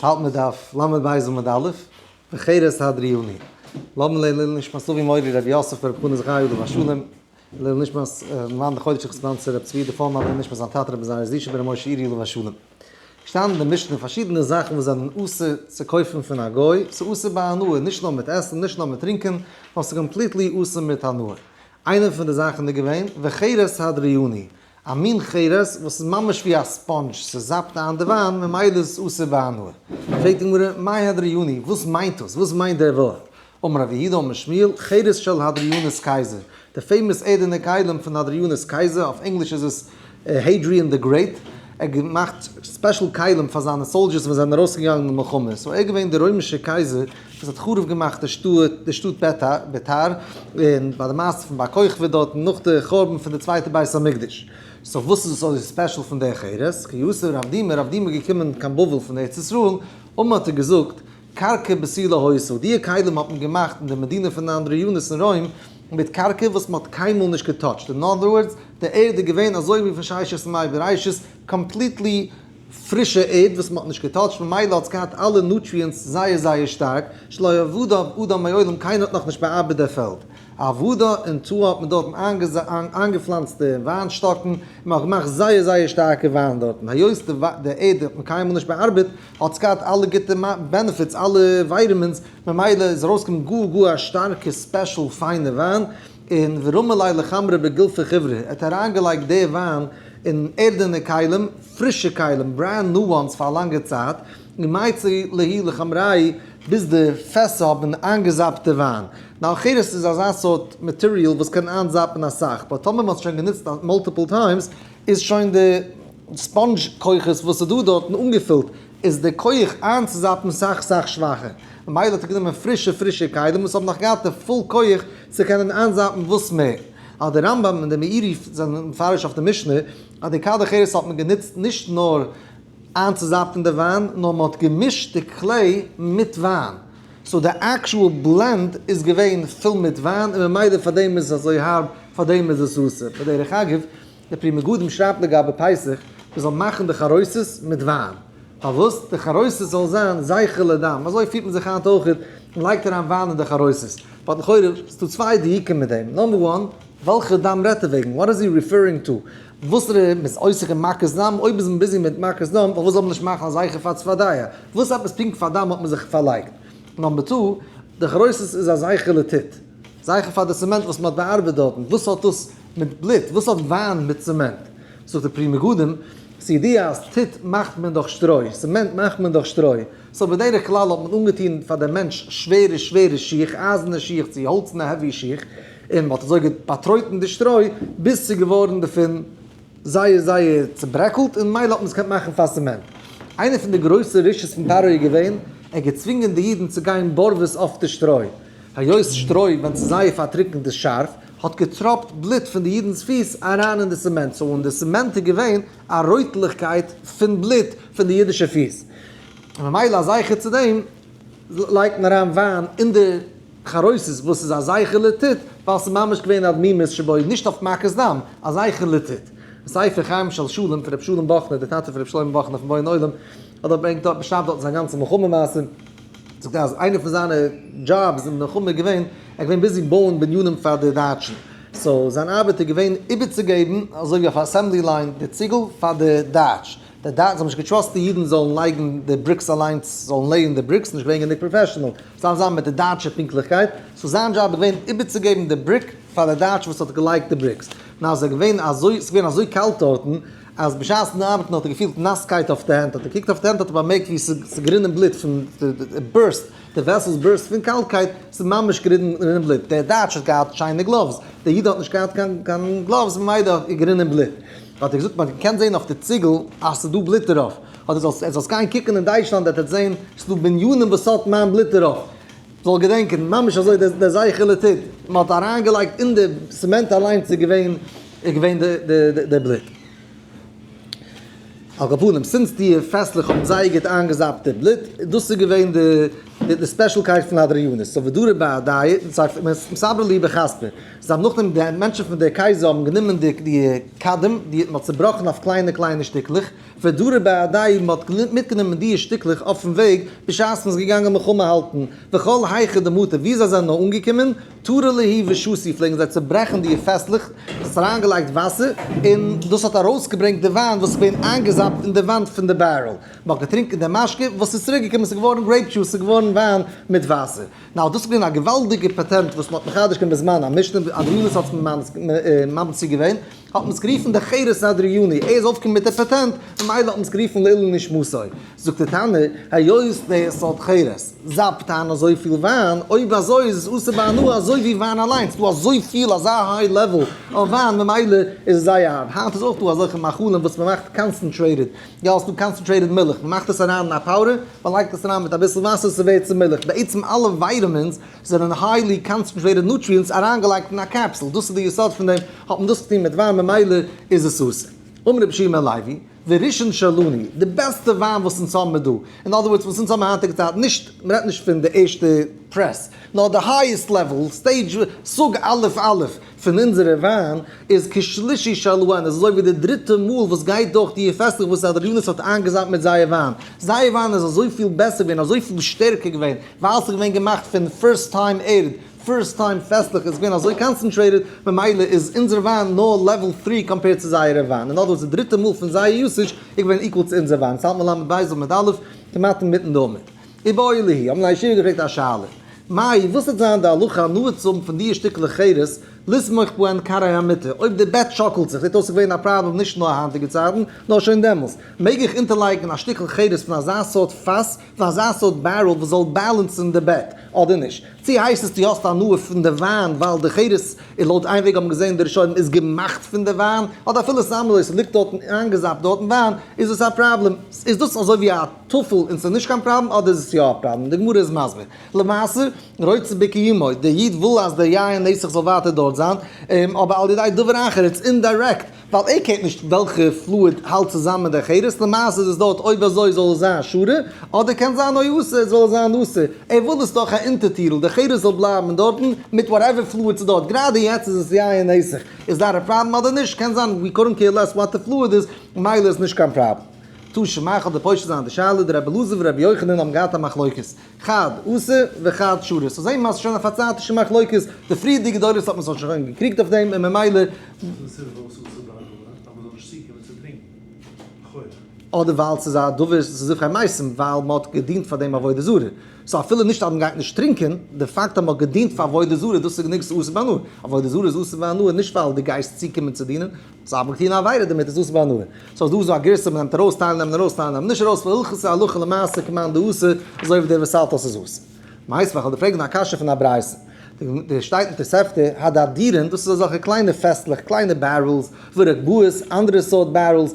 אונז האלט מיר דף לב עמוד א', בחירת הדרי יוני, לב מ לעילוי נשמת אבי מורי רבי יוסף בער פרנס זכרי' עליו השלום, לעילוי נשמת מרן דחוי דשיך ספאנסער רבי צבי דפאר מרן לעילוי נשמת זיין טאטע רבי זעיר זישא בער משה עירי עליו השלום. שטייען אין די משנה פארשידענע זאכן וואס זענען אסור צו קויפן פון א גוי, ס'איז אסור ביי הנאה, נישט נאר מיט עסן, נישט נאר מיט טרינקען, נאר ס'איז קאמפליטלי אסור מיט הנאה. איינע פון די זאכן איז געווען, בחירת הדרי יוני, א מין חירות וואס איז ממש ווי א ספאנדזש, ס'זאפט איין די וויין, ממילא איז עס אסור בהנאה. פרעגט די גמרא, מאי הדרי יוני, וואס מיינט דאס? וואס מיינט דער ווארט? אמר רבי יהודה אמר שמואל, חירות של הדרי יונה'ס קייזער, די פעימאס ערדענע כלים פון הדרי יונה'ס קייזער, אויף ענגליש איז עס Hadrian the Great, ער האט געמאכט ספעשל כלים פאר זיינע סאלדזשערס ווען זיי זענען ארויסגעגאנגען אין מלחמה, סאו ער איז געווען דער רוימישער קייזער וואס האט חרוב געמאכט די שטאט, די שטאט ביתר, ביתר, און ביי די מעשה פון בר כוכבא דארטן נאך די חורבן פון די צווייטע בית המקדש. סאו וואס איז עס אזוי ספעשל פון דער חרס? כי יוסף רב דימה, רב דימה איז געקומען קיין בבל פון ארץ ישראל, און מען האט אים געזאגט, קרקע בסי' לא הויסו, דיע כלים האט מען געמאכט אין די מדינה פון אנדריאנוס אין רוים, מיט קרקע וואס מען האט קיינמאל נישט געטאטשט, אין אנדער ווארדס, די ערד איז געווען אזוי ווי פון ששת ימי בראשית, קאמפליטלי, פרישע ערד וואס מ'האט נישט געטאטשט ממילא האט עס געהאט אלע נוטריענטס זייער זייער שטארק, שלא יעבדו עבדו מעולם קיינער האט נאכנישט בעארבעט דער פעלד, עבודה און תאוה האט מען דארטן איינגעפלאנצט די וויין שטאקן און מ'האט געמאכט זייער זייער שטארקע וויין דארטן, היות די ערד האט מען קיינמאל נישט בעארבעט האט עס געהאט אלע גוטע בענעפיטס אלע ווייטעמינס ממילא איז ארויסגעקומען גאר גאר א שטארקע ספעשל פיינע וויין, און ורמא ליה לחמרא בגלפי חבריא ער האט אריינגעלייגט די וויין אין ערדענע כלים, פרישע כלים, ברענד ניו וואנס פאר א לאנגע צייט, און מעצי ליהי לחמראי ביז די פעסער האבן איינגעזאפט די וויין. ניין חירות איז אזא סארט מאטעריאל וואס קען איינזאפן אסאך, באט טאמער מען האט עס שוין גענוצט מאלטיפעל טיימס איז שוין די ספאנדזש כוחות וואס איז דא דארטן אנגעפילט, איז די כח איינצוזאפן סאך סאך שוואכער. ממילא האט ער גענומען פרישע פרישע כלים וואס האבן נאך געהאט די פול כח צו קענען איינזאפן וואס מער. אז דער רמב ם און דער מאירי י זענען מפרש אויף די משנה אז די קדח ערס האט מען גענוצט נישט נאר איינצוזאפטן די וויין נאר מען האט געמישט די קלעי מיט וויין סאו די עקשועל בלענד איז געווען פול מיט וויין און ממילא פאר דעם איז עס אזוי הארב פאר דעם איז עס אסור בדרך אגב דער פרי מגדים שרייבט לגבי פסח, מען זאל מאכן די חרוסת מיט וויין, פארוואס? די חרוסת זאל זיין זכר לדם, אזוי פירט מען זיך היינט אויך, מען לייגט אריין וויין אין די חרוסת, באט לכאורה איז דא צוויי דיוקים מיט דעם, נאמבער וואן, וועלכע דם רעדט ער וועגן? וואט איז הי ריפערינג טו? וואסערע, מען איז עוסק אין מכת דם? אויב איז מען ביזי מיט מכת דם, פארוואס זאל מען נישט מאכן א זכר פאר צפרדע? וואס עפעס פונקט פאר דם האט מען זיך פארלייגט? נאמבער טו, די גרויסע איז א זייכער לעטיט. זייכער פאר די צעמענט וואס מ'האט באארבעט דארטן. וואס האט דאס מיט בלוט? וואס האט וויין מיט צעמענט? זאגט די פרי מגדים, כידיעה אז טיט מאכט מען דורך שטרוי, צעמענט מאכט מען דורך שטרוי. סאו בדרך כלל האט מען אנגעטון פאר די מענטש שווערע שווערע שיך, אייזענע שיך צו האלצענע העווי שיך, און מ'האט אזוי באטרויטן די שטרוי ביז ס'איז געווארן דערפון זייער זייער צוברעקלט און מילא האט מען עס געקענט מאכן פאר ס'מענט. איינער פון די גרויסע רשעות פון פרעה איז געווען, ער האט געצווינגען די אידן צו גיין בארוועס אויף די שטרוי. היות שטרוי ווען ס'איז זייער פארטריקנט איז שארף, האט געטראפט בלוט פון די אידן'ס פיס אריין אין די סעמענט, סאו אין די סעמענט איז געווען א רויטליכקייט פון בלוט פון די אידישע פיס. ממילא זכר צו דעם לייגט מען אריין וויין אין די חרוסת וואס איז א זכר לתת, ווייל ס'איז ממש געווען א דמימות שבוי, נישט אויף מכת דם, א זכר לתת. ספר חיים של שלום פון רבי שלום באכנער, דער טאטע פון רבי שלמה באכנער פון בויען עולם, האט דארט ברענגט דארט באשרייבט דארט זיין גאנצע מלחמה מעשה, זאגט ער אז איינע פון זיינע דזשאבס אין מלחמה איז געווען, ער איז געווען ביזי בויען בנינים פאר די דייטשן, סאו זיין ארבעט איז געווען איבערצוגעבן אזוי ווי אויף א אסעמבלי ליין די ציגל פאר די דייטש, די דייטש האבן נישט געטראסט די אידן זאלן לייגן די בריקס אליינס, זאלן לעיען די בריקס, נישט געווען גענוג פראפעשענעל, סתם זיין מיט די דייטשע פונקטליכקייט, סאו זיין דזשאב איז געווען איבערצוגעבן די בריק פאר די דייטש וואס האט געלייגט די בריקס, און אז עס איז געווען אזוי, עס איז געווען אזוי קאלט דארטן, אז בשעת'ן ארבעטן האט ער געפילט נאסקייט אויף די הענט, האט ער געקוקט אויף די הענט האט ער באמערקט ווי עס איז גערינען בלוט פון די ברוסט, די וועסעלס ברוסט פון קאלטקייט, עס איז ממש גערינען בלוט, דער דייטש האט געהאט שיינע גלאווס, דער איד האט נישט געהאט קיין גלאווס ממילא איז גערינען בלוט. האט ער געזאגט מען קען זעהן אויף די ציגל אז עס איז דא בלוט דערויף, האט ער געזאגט זאלסט גיין קוקן אין דייטשלאנד וועט עטס זעהן עס איז דא בניינים וואס האט מיין בלוט דערויף, זאל געדענקען ממש אזוי דער זכר לטד, מען האט אריין געלייגט אין די סעמענט אליינס איז געווען איז געווען די די די בלוט. על כל פנים סינס די פעסטלעך האבן זייער גוט איינגעזאפט די בלוט, דאס איז געווען די די ספעשלקייט פון האדריאנוס, סאו ודורי באדייט, סאו מסברה לי בכספי, זיי האבן נאכדעם די מענטשן פון די קייזער האבן גענומען די די קדם די מען האט צובראכן אויף קליינע קליינע שטיקלעך, ודורי בעדי מען האט מיטגענומען דיע שטיקלעך אויפן וועג בשעת מען איז געגאנגען מלחמה האלטן, וכל היכא דמותא ווי זיי זענען נאר אנגעקומען, תרא ליהי ושסי פלעגן זיי צוברעכן דיע פעסטלעך, מען האט אריינגעלייגט וואסער און דאס האט ארויסגעברענגט די וויין וואס איז געווען איינגעזאפט אין די וואנט פון די בערעל, מען האט געטרינקען די משקה וואס איז צוריקגעקומען ס'איז געווארן גרעיפ דזשוס ס'איז געווארן וויין מיט וואסער. נאר דאס איז געווען א געוואלדיגע פעטענט וואס מ'האט מחדש געווען בזמן המשנה, אדריאנוס האט ממציא געווען, האט מען עס גערופן דער חירות האדריאני, ער איז אויפגעקומען מיט דער פעטענט, ממילא האט מען עס גערופן לעילוי נשמתו. זאגט דער תנא, היות די סארט חירות זאפט אן אזויפיל וויין, אויב אזוי איז עס אסור בהנאה אזוי ווי וויין אליין, ס'איז דא אזויפיל אזא היי לעוועל אויף וויין ממילא איז עס זייער הארב, היינט איז אויך דא אזעלכע מאכלים וואס מ'מאכט קאנסענטרעיטעד יא, ס'דא קאנסענטרעיטעד מילך, מ'מאכט עס אריין אין א פאודער, מ'לייגט עס אריין מיט אביסל וואסער, ס'ווערט צו מילך, בעצם אלע ווייטעמינס זענען היילי קאנסענטרעיטעד נוטריענטס אריינגעלייגט אין א קעפסול, דאס איז די יסוד פון דעם, האט מען דאס געטון מיט וויין ממילא איז עס אסור. אמר רבי שמעון הלוי, וראשון שלנו, די בעסטע וויין וואס אונז האבן מיר דא, אין אדער ווארדס וואס אונז האבן היינטיגע צייטן, נישט, מ'רעדט נישט פון די ערשטע פרעס, נאר די הייעסט לעוועל, סטעידזש, סוג א' א', פון אונזערע וויין איז כשלישי שלו עין, עס איז אזוי ווי די דריטע מאל וואס גייט דורך די פעסטלעך וואס הרב יונס האט איינגעזיימט מיט זייער וויין, זייער וויין איז אזויפיל בעסער געווען, אזויפיל שטערקער געווען, ווייל עס איז געווען געמאכט פון פירסט טיים ערד, פירסט טיים פעסטלעך, עס איז געווען אזוי קאנצענטרעיטעד, ממילא איז אונזער וויין נאר לעוועל טרי קאמפעירד צו זייערע וויין, אין אדער ווארדס די דריטע מאל פון זייער יוסעדזש איז געווען איקוועל צו אונזער וויין, צייט מלמד בית אב מיט אלף, כמעט אינמיטן די עמוד. ובאו אלי' האבן זיי ישיבה געפרעגט א שאלה, מאי, וואס וועט זיין די הלכה הנאה צו האבן פון דיע שטיקלעך חירות, לסמוך פו ענד קרעי המיטה, אויב די בעט שאקלט זיך, זעט אויס ס'געווען א פראבלעם נישט נאר היינטיגע צייטן, נאר שוין דעמאלס, מעג איך אונטערלייגן א שטיקל חירות פון אזא סארט פאס, פון אזא סארט בערעל וואס זאל בעלענסן די בעט, אדער נישט? צו הייסט עס דו האסט הנאה פון די וויין ווייל די חירות איז לויט איין וועג האבן געזען די ראשונים איז געמאכט פון די וויין, אדער אפילו סתם לויט ס'ליגט דארטן איינגעזאפט דארטן וויין, איז דאס א פראבלעם? איז דאס אזוי ווי א. טפל און ס'איז נישט קיין פראבלעם אדער איז עס יא א פראבלעם, די גמרא איז מסביר, למעשה רוצה בקיומו, דער איד וויל אז דער יין נסך זאל ווייטער דארט זיין, אבער על ידי דבר אחר, איטס אינדירעקט, ווייל ער קערט נישט וועלכע פלואיד האלט צוזאמען מיט די חירות, למעשה איז עס דארט אויב אזוי זאל עס זיין שורה, אדער קען זיין אוי אסור זאל עס זיין אסור, ער וויל עס דורך א אונטערטירל, די חירות זאל בלייבן אינדארטן, מיט וואטעווער פלואיד ס'איז דארט, גראדע יעצט איז עס יין נסך, איז דארט א פראבלעם אדער נישט, קען זיין, ווי קארענט קעיר לעס וואט די פלואיד איז, ממילא איז נישט קיין פראבלעם. טא שמעך האט די פושט זיינע די שאלה, די רבי אלעזר ורבי יוחנן האבן געהאט א מחלוקת, חד עשה וחד שרש, סאו זעהן מיר אז ס'איז שוין א פארצייטישע מחלוקת, די פריערדיגע דורות האט מען זיך שוין געקריגט אויף דעם און ממילא. אדער ווייל ס'איז א דבר ס'איז זיך א מעשים ווייל מען האט געדינט פאר דעם עבודה זרה, סאו אפילו נישט אז מען גייט נישט טרינקען, די פאקט אז מען האט געדינט פאר עבודה זרה דאס איז גענוג ס'איז אסור בהנאה, עבודה זרה איז אסור בהנאה נישט ווייל די גייסט צוקומען צו דינען, זיי האבן געטון א עבירה דערמיט, איז אסור בהנאה. סאו אז דא איז דא א גרסה מ'נעמט ארויס טייל נעמען ארויס טייל נעמען נישט ארויס פון הלכות ההלכה למעשה כמאן דאיסור אזוי ווי דער וואס האלט אז ס'איז אסור. מיינסט ווען כ'וועל דיר פרעגן א קשיא פון א ברייתא. דא שטייט אין תוספתא הדאדירין דאס איז אזעלכע קליינע פעסטלעך קליינע בערעלס ווי רקבאות אנדערע סארט בערעלס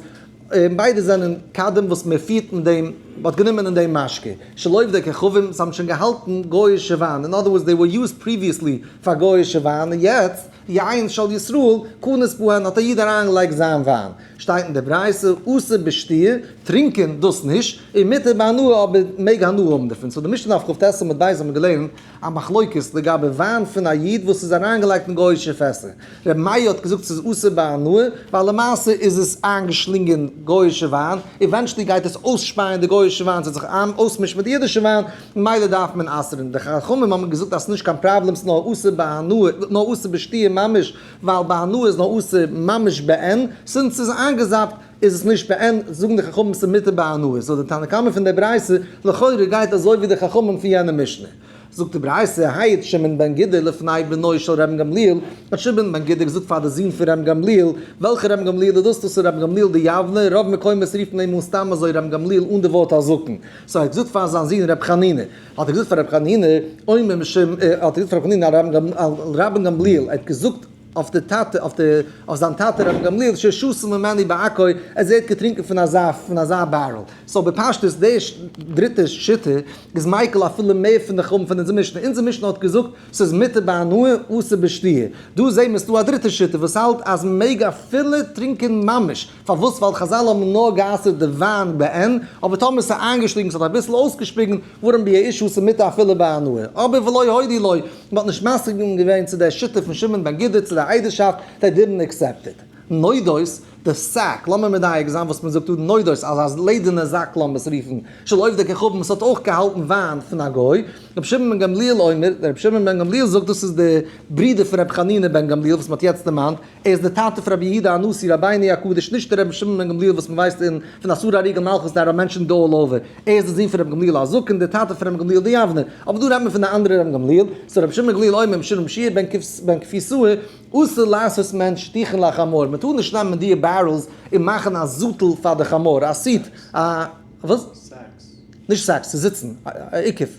און ביידע זענען קדם וואס מ'פירט מיט דעם מ'האט גענומען אין דעם משקה שלא עובדי כוכבים זיי האבן שוין געהאלטן גוי'אישע וויין אין אדער ווארדס דעי ווער יוזד פריוויעסלי פאר גוי'אישע וויין און יעצט די עין של ישראל קנית בהן האט א איד אריינגעלייגט זיין וויין, שטייט אין די ברייתא אסור בשתי', טרינקען דאס נישט, און מותר בהנאה אבער מען מעג הנאה האבן דערפון, סאו די משנה אויף כב ט עמוד ב' האט מען געלערנט א מחלוקת לגבי וויין פון א איד וואס איז אריינגעלייגט אין גוי'אישע פעסער, רבי מאיר האט געזאגט ס'איז אסור בהנאה ווייל למעשה איז עס איינגעשלינגען גוי'אישע וויין, עווענטשעלי גייט עס אויסשפייען די גוי'אישע וויין ס'וועט זיך אויסמישן מיט די אידישע וויין, מילא דארף מען אסר'ן, די חכמים האבן געזאגט אז ס'נישט קיין פראבלעם, ס'איז נאר אסור בהנאה, נאר אסור בשתיה ממש, ווייל בהנאה איז נאר אסור ממש בעין, זינט ס'איז איינגעזאפט איז עס נישט בעין, זאגן די חכמים ס'איז מותר בהנאה, זאגט די תנא קמא פון דער ברייתא, לכאורה גייט אזוי ווי די חכמים פון יענע משנה. זאגט די ברייתא, היד שמעון בן גידא לפני בנו של ר' גמליאל, האט שמעון בן גידא געזאגט פאר די זון פון ר' גמליאל, וועלכע ר' גמליאל איז דאס, דאס איז ר' גמליאל די יבנה, רוב מקומות רופן אים אן סתם אזוי ר' גמליאל אן די ווארט הזקן. סאו ער האט געזאגט פאר זיין זון רבי חנינא, האט ער געזאגט פאר רבי חנינא, אומר משום, האט ער געזאגט פאר רבי חנינא, על רבן גמליאל, ער האט געזאגט אויף די טאטע, אויף די, אויף זיין טאטע רבן גמליאל, ששתו ממני בעכו, אז ער האט געטרינקען פון אזא, פון אזא בערל. סאו בפשטות די דריטע שיטה איז מיקל אפילו מער פון די חורבן פון אונזער משנה, אונזער משנה האט געזאגט ס'איז מותר בהנאה אסור בשתיה, דא זעמיר ס'דא א דריטע שיטה וואס האלט אז מ'מעג אפילו טרינקען ממש. פארוואס? ווייל חזל האבן נאר גע'אסר'ט די וויין בעין, אבער טאמער ס'איז איינגעשליגן, ס'האט אביסל אויסגעשפיגן, ווארום ביי א איש הוא ס'מותר אפילו ביי הנאה. אבער ולא הודי ליה, מ'האט נישט מסכים געווען צו דער שיטה פון שמעון בן גידא צו דער איידערשאפט, זיי דידנט אקסעפטעד. נודות, די סאק, לאמיר מדייק זיין וואס מ'זאגט דא, נודות, אז א לעדערנע זאק לאמער'ס רופן, של עובדי כוכבים, ס'האט אויך געהאלטן וויין פון א גוי. רבי שמעון בן גמליאל אומר, דער רבי שמעון בן גמליאל זאגט דאס איז דער ברודער פון רבי חנינא בן גמליאל וואס מ'האט יעצט דערמאנט, ער איז דער טאטע פון רבי יהודה הנשיא רבינו הקדוש, נישט דער רבי שמעון בן גמליאל וואס מען ווייסט אין פון אסור הריגל מלכות די ארא מענטשן דא אלל אווער, ער איז דער זון פון רבי גמליאל הזקן דער טאטע פון רבי גמליאל די יבנער, אבער דא רעדט מען פון די אנדערע רבי גמליאל, סאו רבי שמעון בן גמליאל אומר משנה משיעי בן בן כפי סאה, אסור לעשות מען שטיחן לחמור, מען טאר נישט נעמען דיע בערעלס און מאכן א זאטל פאר די חמור, א סיעט, א וואס? נישט סעקס, ס'זיצן, א עיקוף.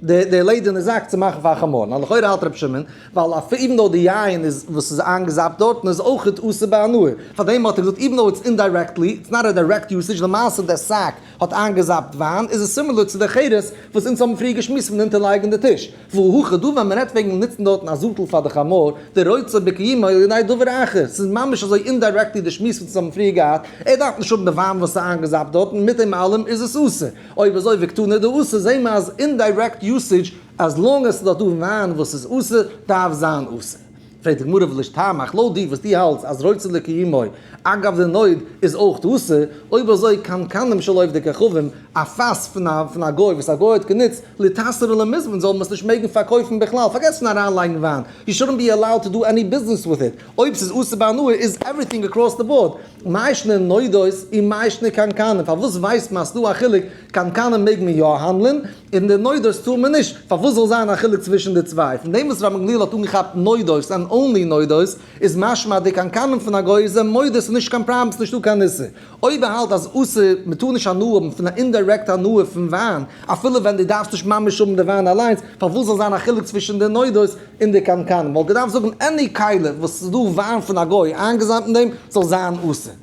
די לעדערנע זאק צו מאכן פאר חמור, לכאורה האלט רבי שמעון, ווייל אפי' איווען דאו די יין איז וואס איז איינגעזאפט דארטן איז אויכעט אסור ביי הנאה, פארדעם האט ער געזאגט איווען דאו איטס אינדיירעקטלי, איטס נאט א דיירעקט יוסעדזש, למעשה דער סאק האט איינגעזאפט וויין, איז עס סימילער צו די חירות וואס אונז האבן פריער געשמועסט פון אונטער לייגן די טיש, והוא הכי דא ווען מען רעדט וועגן נוצן דארטן א זאטל פאר די חמור, די רוצה בקיומו על ידי דבר אחר, ס'איז ממש אזוי אינדיירעקטלי די שמועס וואס אונז האבן פריער געהאט, ער דארף נישט האבן די וויין וואס איז איינגעזאפט דארטן, מיט דעם אלעם איז עס אסור. אויב אזוי וועגט טון איז דא אסור זעהן מיר אז אינדיירעקט יוסעדזש אז לאנג עס איז דאך דא וויין וואס איז אסור דארף זיין אסור. פרעגט די גמרא ולש טעמך לויט דיר וואס דו האלטסט אז רצה לקיומו אגב די נויט איז אויך אסור אויב אזוי קנקנים של עובדי כוכבים א פאס פון א פון א גוי וואס א גוי האט גענוצט להתעשר ולמזוון זאל מען עס נישט מעגן פארקויפן בכלל פארגעס פון אריין לייגן וויין יו שאדנט בי עלאוד טו דא עני ביזנעס וויט איט אויב ס'איז אסור ביי הנאה איז עווריטינג אקראס די באורד מה ישנה נודות און מה ישנה קנקנים? פארוואס ווייסט מען אז ס'דא א חילוק, קנקנים מעג מען יא האנדלען, און די נודות טאר מען נישט, פארוואס זאל זיין א חילוק צווישן די צוויי? פון דעם וואס רבן גמליאל האט אנגעכאפט נודות ענד אנלי נודות, איז משמע אז די קנקנים פון א גוי איז מודות איז נישט קיין פראבלעם, ס'איז נישטא קיין איסור. אויב ער האלט אז אסור, מען טאר נישט הנאה האבן פון א אינדירעקט הנאה פון וויין, אפילו ווען דו דארפסט נישט ממש האבן די וויין אליינס, פארוואס זאל זיין א חילוק צווישן די נודות? אין די קנקן וואלט געדארפט זאגן עני כלה וואס ס'איז דא וויין פון א גוי איינגעזאמט אין דעם זאל זיין אסור.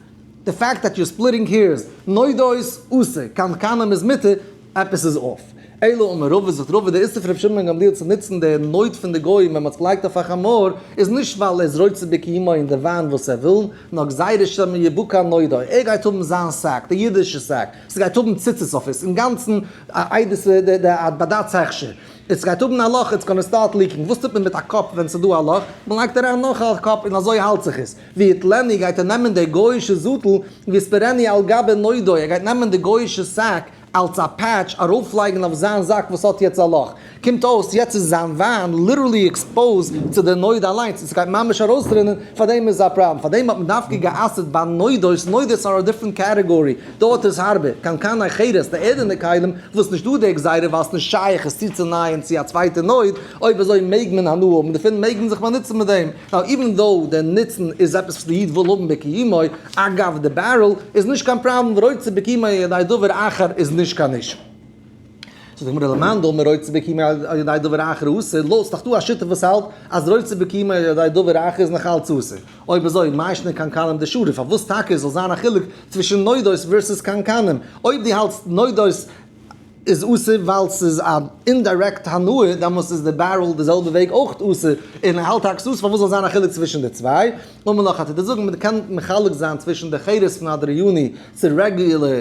די פאקט דעט יור ספליטינג העירס, נודות, אסור, קנקנים איז מותר, עפעס איז אףף. אלא אמר רבא זאגט רבא די איסור פון רבי שמעון בן גמליאל צו נוצן די נוד פון די גוים ווען מ'האט עס געלייגט אויף א חמור איז נישט ווייל ער איז רוצה בקיומו אין די וויין וואס ער וויל נאר גזירה שמא יבוא כאן נודו ער גייט האבן זיין שק די אידישע שק ס'גייט האבן ציצית אויף עס אינגאנצן א עדות די די א בדצ הכשר. עס גייט האבן א לאך, איטס גאנא סטארט ליקינג, וואס טוט מען מיט א קאפ ווען ס'איז דא א לאך? מ'לייגט אריין נאך א קאפ און אזוי האלט זיך עס. ווי עט לעני גייט ער נעמען די גויאישע זאטל, ווי ספרעני על גבי נודו, ער גייט נעמען די גויאישע סעק אלץ א פעטש ארויף לייגן אויף זיין זאק וואס האט יעצט א לאך. קומט אויס יעצט איז זיין וויין ליטערלי עקספאוזד צו די נודו אליינס און ס'גייט ממש ארויסרינען, פארדעם איז א פראבלעם, פארדעם האט מען דווקא גע'אסר'ט ביי נודו'ס, נודו'ס אר א דיפרענט קעטעגארי, דארט איז הארבע, קנקן אחרת, די ערדענע כלים, וואס נישט דא די גזירה ווייל ס'נישט שייך עס צוצונייען צו א צווייטע נויט, אויב אזוי מעג מען הנאה האבן דערפון, מעג מען זיך באנוצן מיט דעם, נאו איווען דאו דער נוצן איז עפעס וואס די איד וויל האבן בקיומו, אגב די בערעל איז נישט קיין פראבלעם ורוצה בקיומו ידי דבר אחר איז נישט קיין אישו. זאגט די גמרא למאן דאמר רוצה בקימה על ידי דבר אחר הוא אסור, לא, ס'דאך דא א שותף וואס האלט אז רוצה בקימה על ידי דבר אחר איז נאך אלץ אסור. אויב אזוי מאי שנא קנקנים דשרא, פארוואס טאקע זאל זיין א חילוק צווישן נודות ווערסוס קנקנים? אויב דו האלטסט נודות איז אסור ווייל ס'איז א אינדירעקט הנאה, דאמאלס איז די בערל די זעלבע וועג אויך אסור, און ער האלט טאקס אסור, פארוואס זאל זיין א חילוק צווישן די צוויי? און מנח א טוט ער זאגן מען קען מחלק זיין צווישן די חירות פון הדרי יוני צו רעגולער,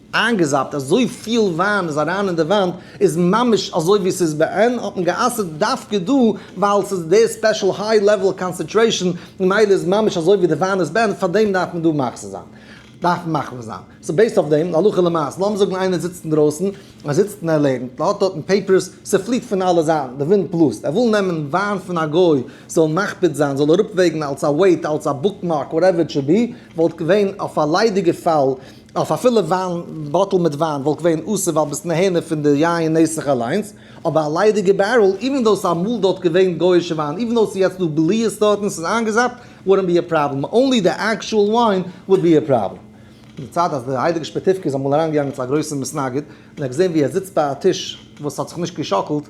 איינגעזאפט אזוי פיל וויין איז אריין אין די וואנט, איז ממש אזוי ווי ס'איז ב ה, האט מען גע'אסר'ט דווקא דא ווייל ס'איז די ספעשל היי לעוועל קאנסענטרעישאן, ממילא איז ממש אזוי ווי די וויין איז ב ה, פאר דעם דארף מען דא מחזיר זיין, דארף מען מחמיר זיין. סאו בעיסד אויף דעם, הלכה למעשה, לאמיר זאגן איינער זיצט אינדרויסן, ער זיצט און ער לערנט, ער האט דארטן פעיפערס, ס'פליט פון אלע זייטן, די ווינט בלאזט, ער וויל נעמען וויין פון א גוי, זאל מקפיד זיין, זאל אראפוועגן אלס א וועיט, אלס א בוקמארק, וואטעווער איט שוד בי, וואלט געווען אויף א ליידיגע פאל, אויף א פילע וויין באטל מיט וויין וואלט געווען אסור ווייל ביסט נהנה פון די יין נסך אליינס, אבער א ליידיגע בערל, איווען דאו ס'איז אמאל דארט געווען גויאישע וויין, איווען דאו ס'איז יעצט דא בליעה'ס דארט און ס'איז איינגעזאפט, וואודנט בי א פראבלעם, אנלי די עקשועל וויין וואלט בי א פראבלעם. די צד אז די הייליגע שפעטיווקע איז אמאל אריינגעגאנגען צו א גרויסע מסנגד און ער האט געזען ווי ער זיצט ביי א טיש וואס האט זיך נישט געשאקלט,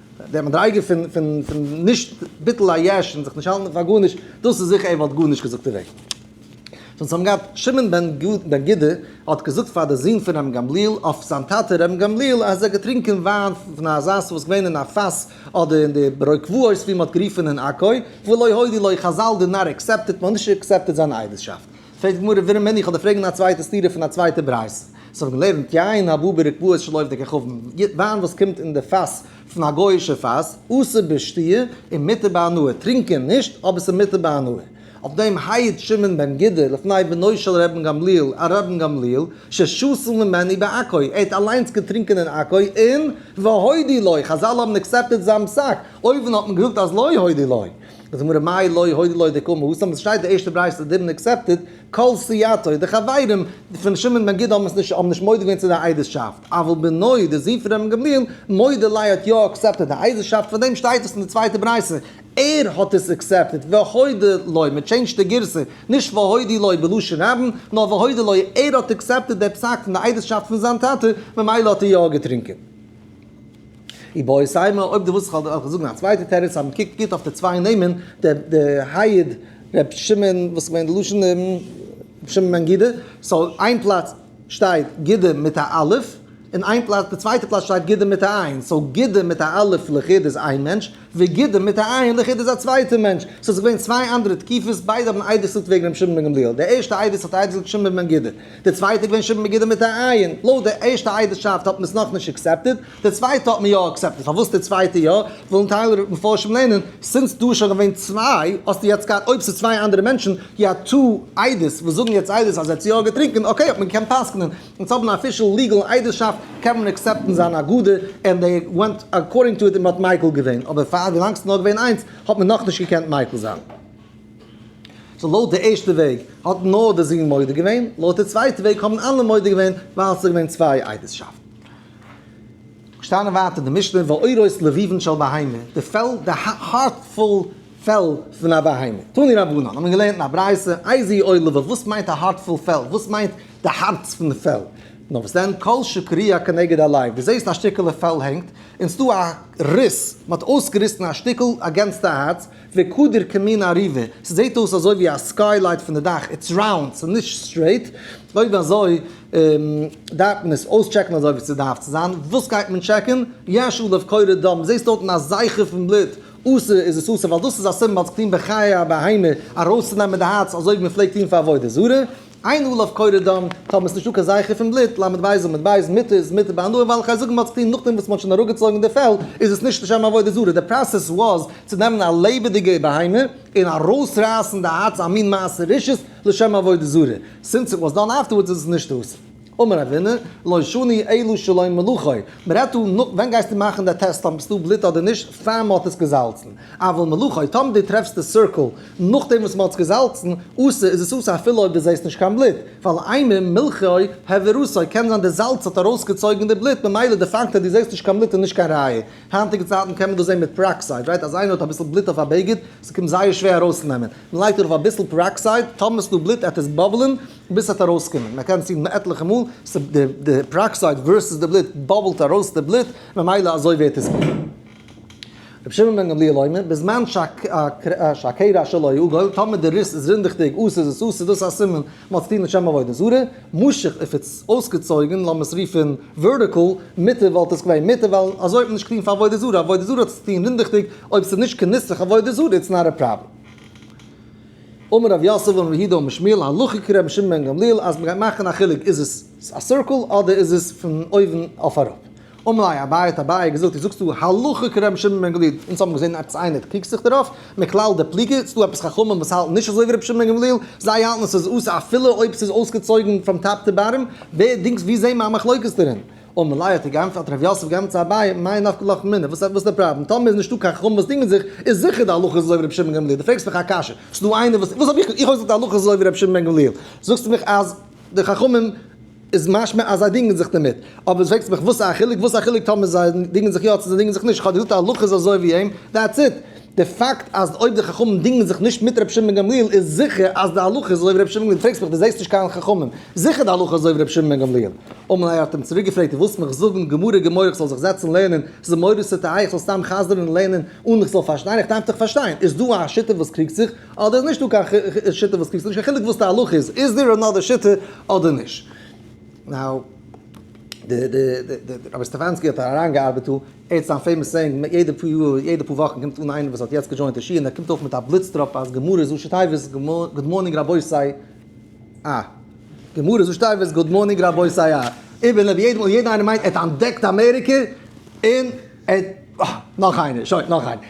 די מדריגה פון פון פון נישט ביטול היש און זיך נישט האלטן פאר גארנישט, דאס איז זיכער ער וואלט גארנישט געזאגט דערוועגן. זיי האבן געהאט שמעון בן גדא האט געזאגט פאר די זון פון ר' גמליאל אויף זיין טאטע ר' גמליאל אז ער האט געטרינקען וויין פון א זאס וואס איז געווען אין א פאס אדער אין די ברי קברות ווי מען האט גערופען אין עכו ולא הודי לו חזל די נאר עקסעפטעט מען האט נישט עקסעפטעט זיין עדות'שאפט. פרעגט די גמרא ווערום מען איך האב די פרעגן א צווייטע סתירה פון א צווייטע ברייתא וואס האב געלערנט יין הבא ברקבהות של עובדי כוכבים וויין וואס קומט אין די פאס פון א גויאישע פאס אסור בשתיה און מותר בהנאה טרינקען נישט אבער עס איז מותר בהנאה אויף דעם הייעט שמעון בן גדא לפני בנו של רבן גמליאל א רבן גמליאל ששתל ממני בעכו ער האט אליינס געטרינקען אין עכו און והודי לו חזל האבן עקסעפטעד זיין פסק אויבן האט מען געזאגט אז לא הודי לו. איז מראה מאי לא הודי ליה דקאמר הוא סתם עס שטייט די ערשטע ברייתא דידנט עקסעפטעד כל סייעתו די חברים פון שמעון בן גידא האבן עס נישט האבן נישט מודה געווען צו די עדות'שאפט אבל בנו די זון פון רבן גמליאל מודה ליה האט יא עקסעפטעד די עדות'שאפט פאר דעם שטייט עס אין די צווייטע ברייתא ער האט עס עקסעפטעד והודי ליה מען טשעינדזשט די גירסא נישט והודי ליה בלשון רבים נאר והודי ליה ער האט עקסעפטעד די פסק פון די עדות'שאפט פון זיין טאטע ממילא האט ער יא געטרינקען. און ביי אויסהיימער אויב דו ווילסט איך זאגן א צווייטע תירוץ אז מען קוקט גוט אויף די צוויי נעמען די היד ר' שמעון וואס איז געווען די לשון ר' שמעון בן גידא סאו איין פלאץ שטייט גידא מיט א אלף און איין פלאץ די צווייטע פלאץ שטייט גידא מיט א עין סאו גידא מיט א אלף לחוד איז איין מענטש. וגידו מיט א עין לחיד איז א צווייטע מענטש. סאו ס'איז געווען צוויי אנדערע תקיפות, ביידע האבן איידער געזאגט וועגן רבי שמעון בן גמליאל. דער ערשטע עדות האט איידער געזאגט שמעון בן גידו. דער צווייטע איז געווען שמעון בן גידו מיט א עין. לויט דער ערשטע עדות'שאפט האט מען עס נאכנישט אקסעפטעד, דער צווייטע האט מען יא אקסעפטעד. פארוואס דער צווייטע יא? וועלן טייל מפרשים לערנען, סינס דא איז שוין געווען צוויי, האסטו יעצט געהאט אויב ס'איז צוויי אנדערע מענטשן, יא טו עדות וואס זאגן יעצט עדות אז ער האט יא געטרינקען, אקעי האט מען געקענט פסק'נען, אונז האבן א אפישעל ליגעל איידערשאפט, קען מען עקסעפטן זיין אגודה, און דעי ווענט אקארדינג טו איט און מען האט מיקל געווען, אבער פאר ווי לאנג ס'איז נאר געווען איינס האט מען נאכנישט געקענט מיקל זיין. סאו לויט די ערשטע וועג האט נאר די זוהן מודה געווען, לויט די צווייטע וועג האבן אלע מודה געווען ווייל ס'איז געווען צוויי איידערשאפטן. שטייען ווייטער די משנה ועורות לביבן של בהמה, די פעל, די הארט פול פעל פון א בהמה. תני רבנן, האט מען געלערנט אין א ברייתא, איזהי עול לבב, וואס מיינט א הארט פול פעל, וואס מיינט, די הארץ פון די פעל. נאר וואס דען כל שקריה כנגד הלב, דו זעסט א שטיקעלע פעל הענגט, און ס'דא א ריס, מען האט אויסגעריסן א שטיקל אגענסט די הארץ, וקודר כמין עריבה, ס'זעט אויס אזוי ווי א סקיי לייט פון די דאך, איטס ראונד, ס'איז נישט סטרעיט, אויב אזוי דארף מען עס אויסטשעקן אזוי ווי ס'דארף צו זיין, וואס גייט מען טשעקן? יש עליו קורא דם, דו זעסט דארטן א זייכער פון בלוט, אסור איז עס אסור, ווייל דאס איז א סימן, מ'האט זיך געטון בחיי הבהמה, ארויסצונעמען די הארץ אזוי ווי מען פלעגט טון פאר עבודה זרה. אין אל אויף קורא דם, טאר מען עס נישט אקער זייכער פון בלוט, ל' בייז און מ' בייז, מיתה איז מיתה ביי הנאה, ווייל כ'גיי זאגן מען האט עס געטון נאכדעם וואס מען האט שוין אראפגעצויגן די פעל, איז עס נישט לשם עבודה זרה, די פראסעס וואס צו נעמען א לעבעדיגע בהמה און ארויסרייסן די הארץ א מין מעשה רשעות לשם עבודה זרה, סינס איט וואס דאן אפטערווארדס איז עס נישט אסור. אמר אבינו, לא שני אלא שלום מלכו, מען רעדט דא נאך ווען גייסטו מאכן די טעסט אויב ביסטו בלוט אדער נישט פאר מען האט עס געזאלצן, אבל מלכו, טאמער דו טרעפסט די סירקל נאכדעם וואס מען האט עס געזאלצן, אסור איז עס אסור אפילו אויב דו זעסט נישט קיין בלוט, ועל עימם מלכו העביר עשו, קען זיין די זאלץ האט ארויסגעצויגן די בלוט, ממילא די פאקט אז דו זעסט נישט קיין בלוט איז נישט קיין ראיה, היינטיגע צייטן קען מען דאס זען מיט פעראקסייד, ראיט אז איינער האט אביסל בלוט אויף א בגד, ס'קומט זייער שווער ארויסצונעמען, מען לייגט ארויף אביסל פעראקסייד, טאמער ס'איז דא בלוט עט עס באבלען, ביז ס'וועט ארויסקומען, מען קען צינדן עטליכע מאל, די פעראקסייד ווערסעס די בלוט באבלט ארויס די בלוט, ממילא אזוי ווערט עס גענוג. רבי שמעון בן גמליאל אומר, בזמן שהקרע שלא יעגל, טאמער די ריס איז רינדעכדיג, אויס איז עס אויס, איז דאס א סימן מען האט צוטון מיט שם עבודה זרה, משאכ איף איטס אויסגעצויגן, לאמיר עס רופן ווערטיקל, מוטער, וואלט עס געווען מותר, ווייל אזוי האט מען נישט געטון פאר עבודה זרה, עבודה זרה האט צוטון רינדעכדיג, אויב ס'איז נישט כנוסח עבודה זרה, איטס נאט א פראבלעם. אמר רב יוסף און ר' יהודה און ר' שמואל הלכה כר' שמעון בן גמליאל אז מ'גייט מאכן א חילוק איז עס א סירקל אדער איז עס פון אויבן אויף אראפ. אמר ליה אביי האט אביי געזאגט איז זאגסטו הלכה כר' שמעון בן גמליאל אונז האבן געזען עפעס איינער האט קריגסט זיך דערויף מכלל די פליגה ס'איז דא עפעס חכמים וואס האלטן נישט אזוי ווי ר' שמעון בן גמליאל זיי האלטן עס איז אסור אפילו אויב ס'איז אויסגעצויגן פראם טאפ טו באטאם ווער דינגס ווי זעהן מיר א מחלוקת דערין? און מלא האט געענטפערט האט ר' יוסף געענטפערט צו אביי מאי נפק לך מינה וואס איז די פראבלעם טאמער איז נישטא קיין חמ וואס דינגען זיך איז זיכער די הלכה איז אזוי ווי ר' שמעון בן גמליאל די פרעגסט מיך א קשיא ס'איז דא איינער וואס וואס האב איך איך האב געזאגט די הלכה איז אזוי ווי ר' שמעון בן גמליאל זאגסטו מיך אז די חכמים איז משמע אז זיי דינגען זיך דערמיט אבער די פרעגסט מיך וואס א חילוק וואס א חילוק טאמער זיי דינגען זיך יא צו זיי דינגען זיך נישט איך האב געזאגט די הלכה איז אזוי ווי אים דעטס איט. די פאקט אז אויב די חכמים דינגען זיך נישט מיט ר' שמעון בן גמליאל איז זיכער אז די הלכה איז אזוי ווי ר' שמעון גמליאל פרעגסט מיך די זעסט נישט קיין חכמים זיכער די הלכה איז אזוי ווי ר' שמעון בן גמליאל אמאל איי האט אים צוריק געפרעגט דו ווילסט מיך זאגן גמרא גמרא איך זאל זיך זעצן לערנען ס'איז מורא'דיג צו טייער איך זאל סתם חזר'ן און לערנען אן איך זאל פארשטיין איך דארף דאך פארשטיין איז דא א שיטה וואס קריגט זיך אדער איז נישט דא קיין שיטה וואס קריגט זיך נישט קיין חילוק וואס די הלכה איז איז דער אנאדער שיטה אדער נישט נאו די די די רבי סטעפאנסקי האט אריינגעארבעט דא. ער איז א פעימאס סעינג, כמעט יעדע פאר יאר, יעדע פאר וואכן קומט אן איינער וואס האט יעצט געדזשוינט די שול און ער קומט אויף מיט א בליץ טראפ אז גמרא איז ראשי תיבות גוד מארנינג רבותי א. גמרא איז ראשי תיבות גוד מארנינג רבותי א. איבער לב יעדעם און יעדע איינער מיינט ער האט אנטדעקט אמעריקע און ער אה נאך איינער שוין נאך איינער.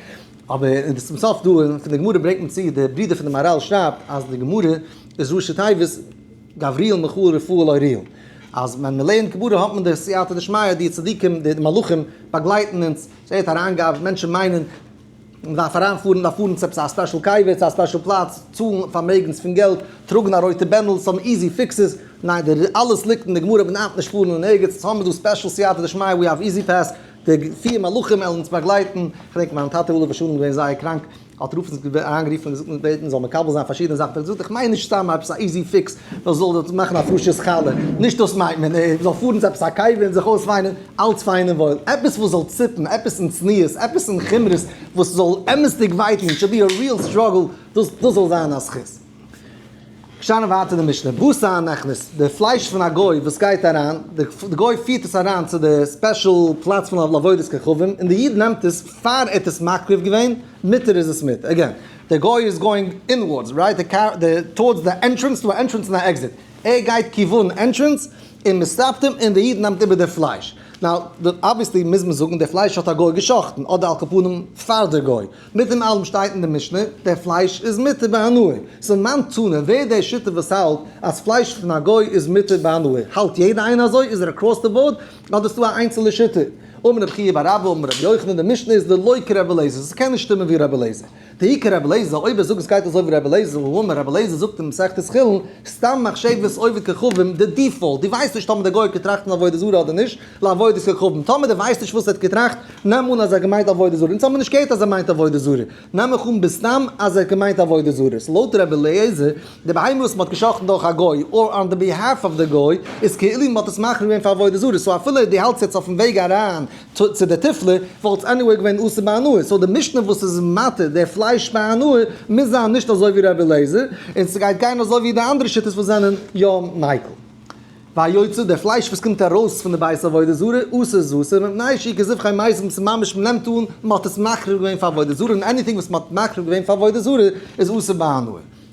אבער און צום סוף דא פון די גמרא ברענגט מען צו די ברידער פון די מהרל שרייבט אז די גמרא איז ראשי תיבות. גבריאל מכאוב רפאל אוריאל, אז ווען מען לערנט גמרא האט מען די סייעתא דשמיא, די צדיקים, די מלאכים באגלייטן אונז, ס'ווערט אריינגעהאפט, מענטשן מיינען מען דארף אריינפארן, מ'דארף פארן צו עפעס א ספעשל קאווע, צו א ספעשל פלאץ, צאלן פארמעגנס פון געלט, טראגן א רויטע בענדל, סאם איזי פיקסעס, ניין, די אלעס ליגט אין די גמרא, מען דארף נישט פארן אין ערגעץ, אונז האבן דא ספעשל סייעתא דשמיא, ווי האוו איזי פעס, די פיר מלאכים וועלן אונז באגלייטן, כ'דענק מיין טאטע עליו השלום איז געווען זייער קראנק, האט רופין זיך אריינגערופן און געזאגט מ'וועט בעטן מ'זאל מקבל זיין פארשידענע זאכן, האט ער געזאגט איך מיין נישט סתם עפעס א איזי פיקס וואס זאל דאס מאכן א פרישע חלה, נישט דאס מיינט מען, ער זאל פארן צו עפעס א קאווע און זיך אויסוויינען, אלץ פיין און וואויל, עפעס וואס זאל ציפן, עפעס אין צניעות, עפעס אין חומרות וואס זאל אמת'דיג וויי טון, איט שוד בי א ריעל סטראגל, דאס זאל זיין א זכות. שטאנען ווייטער אין די משנה, בשר הנכנס, די פלייש פון א גוי וואס גייט אריין, די גוי פירט עס אריין צו די ספעשל פלאץ פון לעבודת כוכבים, און די איד נעמט עס, פאר ער האט עס מקריב געווען, מותר איז עס מיט, עגעין, די גוי איז גאוינג אינווארדס, רייט, טארדס די ענטרענס, ס'דא א ענטרענס און א עקזיט, ער גייט כיוון ענטרענס, און מען סטאפט אים, און די איד נעמט איבער די פלייש, נאו, אבוויעסלי מוז מען זאגן די פלייש האט א גוי גע'שחט'ן, אדער על כפנים פאר די גוי. מיט דעם אלעם שטייט אין די משנה, דער פלייש איז מותר בהנאה. סאו מיין טענה, ווער דער שותף וואס האלט אז פלייש פון א גוי איז מותר בהנאה? האלט יעדער איינער אזוי? איז ער אקראס די באורד? אדער איז דא א איינצעלע שותף? אמר רבי חייא בר אבא אמר רבי יוחנן, די משנה איז ללא כרבי אליעזר, ס'קען נישט שטימען ווי רבי אליעזר. תהי' כרבי אליעזר, אויב ער זאגט עס גייט אזוי ווי רבי אליעזר, הוא אמר רבי אליעזר זאגט אין מסכת חולין, סתם מחשבת עובד כוכבים, די דיפאולט, דו ווייסט נישט טאמער דער גוי האט געטראכט פון עבודה זרה אדער נישט, לעבוד את כוכבים, טאמער דו ווייסט נישט וואס ער האט געטראכט, נעם אן אז ער האט געמיינט עבודה זרה, אונז האבן נישט געהערט אז ער מיינט עבודה זרה, נעם איך אן בסתם אז ער האט געמיינט עבודה זרה, סאו לויט רבי אליעזר, די בהמה וואס מען האט געשאכטן דורך א גוי, אר אן די ביהאלף אוו די גוי, איז כאילו מען האט עס מכריע געווען פאר עבודה זרה, סאו אפילו די האלטסט יעצט אויפן וועג אריין צו די תפלה, וואלט עס עניוועי געווען אסור ביי הנאה, סאו די משנה וואס איז מתיר די פלייש ביי הנאה, מוז זיין נישט אזוי ווי רבי אליעזר, און ס'גייט גיין אזוי ווי די אנדערע שיטות וואס זענען יא מיקל. ויצא דער פלייש וואס קומט ארויס פון די בית עבודה זרה אסור איז אסור מפני שהיא כזבחי מת וואס איז ממש מען נעמט אן מען האט עס מקריב געווען פאר עבודה זרה און עניטינג וואס מען האט מקריב געווען פאר עבודה זרה איז אסור בהנאה.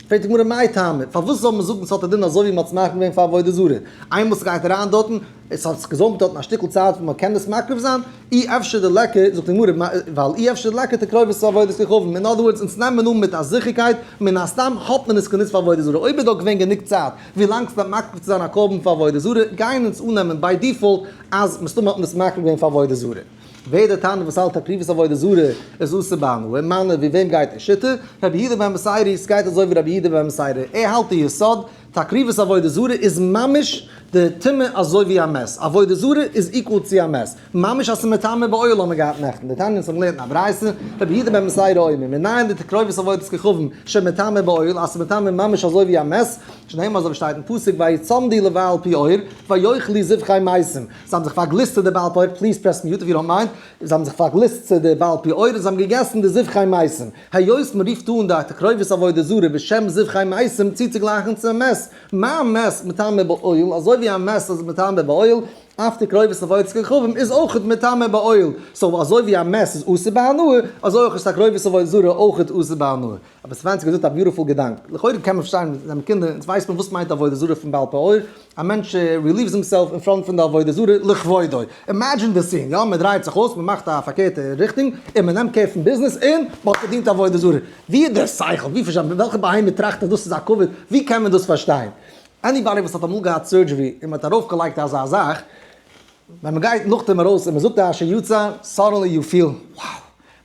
פרעגט די גמרא מאי טעמא פארוואס זאל מען זאגן עס האט א דין אזוי ווי מען האט עס מקריב געווען פאר עבודה זרה איינמאל סגייט אריין דארטן עס האט זיך געזאמט דארטן א שטיקל צייט וואס מען קען עס מקריב זיין אי אפשר די לעקע זאגט די גמרא מאי ווייל אי אפשר די לעקע תקרובת צו עבודת כוכבים אין אדער ווארדס אונז נעמען אן מיט א זיכערקייט מן הסתם האט מען עס גענוצט פאר עבודה זרה אויב איז דא געווען גענוג צייט ווילאנג ס'דארף מקריב צו זיין א קרבן פאר עבודה זרה, גייען אונז אננעמען ביי דיפאלט אז מסתמא האט מען עס מקריב געווען פאר עבודה זרה. ווער דער תנא וואס האלט הקרבת עבודה זרה איז אסור בהנאה, מיינע ווי וועם גייט דער שיטה? רבי יהודה בן מסעירי? ס'גייט אזוי ווי רבי יהודה בן מסעירי, ער האלט די יסוד, תקריבת עבודה זרה איז ממש די טומאה אזוי ווי א מעש, עבודה זרה איז איקוועל צו א מעש. ממש האסטו מטמא באוהל האמער געהאט נעכטן די תניא ס'האמער געלערנט אין א ברייתא רבי יהודה בן מסעי ראה עמו מנין די תקרובת עבודת כוכבים שמטמא באוהל האסטו מטמא ממש אזוי ווי א מעס שנהיימר אזוי ווי שטייט אין פסוק ויצמדי לבעל פעור ויאכלי זבחי מייסים זיי האבן זיך פארגליסט צו די בעל פעור פליז פרעס מיוט איף יו דאנט מיינד זיי האבן זיך פארגליסט צו די בעל פעור און זיי האבן געגעסן די זבחי מייסים היות מ'רופט אן די תקרובת עבודה זרה בשם זבחי מייסים צוצוגלייכן צו מעס מיין מעס מטמא באוהל אזוי ווי א מעס איז מטמא באוהל אפטער קרובת אבות כוכבים איז אויך מטמא בעול, סאו אזוי ווי א מעס איז אסור בהנאה, אזוי אויך איז א קרובת אבות זרה אויך אסור בהנאה. אבער סווענצי געזאגט א ביוטיפול געדאנק, לכאורה קען מען פארשטיין מיט זיינע קינדער, אונז ווייסט מען וואס מיינט עבודה זרה פון בעל פעור, א מענטש רעליווס הימסעלף אין פראנט פון די עבודה זרה לכבודו. אימעדזשין די סין, יא מען דרייט זיך אויס, מען מאכט א פארקערטע ריכטונג, און מען נעמט קער פון ביזנעס, און מען האט געדינט עבודה זרה. ווי איז דער שכל? ווי פארשטיי מען? וועלכע בהמה טראכט אז דאס איז א כבוד? ווי קען מען דאס פארשטיין? עניבאדי וואס האט אמאל געהאט סורדזשערי און מען האט ארויף געלייגט אזא זאך ווען מען גייט נאכדעם ארויס און מען זאגט א אשר יצר סאדענלי יו פיל wow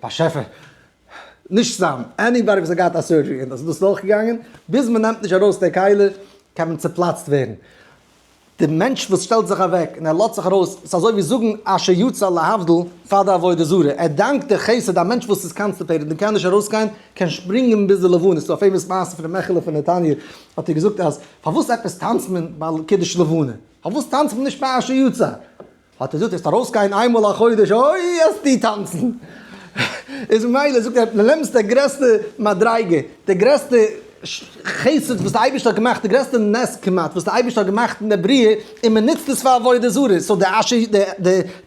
באשעפער נישט סתם עניבאדי וואס האט געהאט א סורדזשערי און דאס איז אויך געגאנגען ביז מען נעמט נישט ארויס די כלי קען מען צופלאצט ווערן די מענטש וואס שטעלט זיך אוועק און ער לאזט זיך ארויס ס'איז אזוי ווי זאגן אשר יצר להבדיל פאר די עבודה זרה ער דאנקט די חסד א מענטש וואס איז קאנסטיפעיטעד און קען נישט ארויסגיין קען שפרינגען ביז די לבנה ס'איז דא א פעימאס מעשה פון די מעכעלע פון נתניה האט ער געזאגט אז פארוואס עפעס טאנצט מען ביי קידוש לבנה? פארוואס טאנצט מען נישט פרשה יצא? האט ער געזאגט וועסט ארויסגיין איין מאל א חודש אוי וועסטו טאנצן! איז ממילא זאגט ער די נעמסט די גרעסטע מדריגה, די גרעסטע חסד וואס די אייבערשטער האט געמאכט, די גרעסטע נס כמעט וואס די אייבערשטער האט געמאכט אין די בריאה, און מען נוצט עס פאר עבודה זרה, סאו די אש י די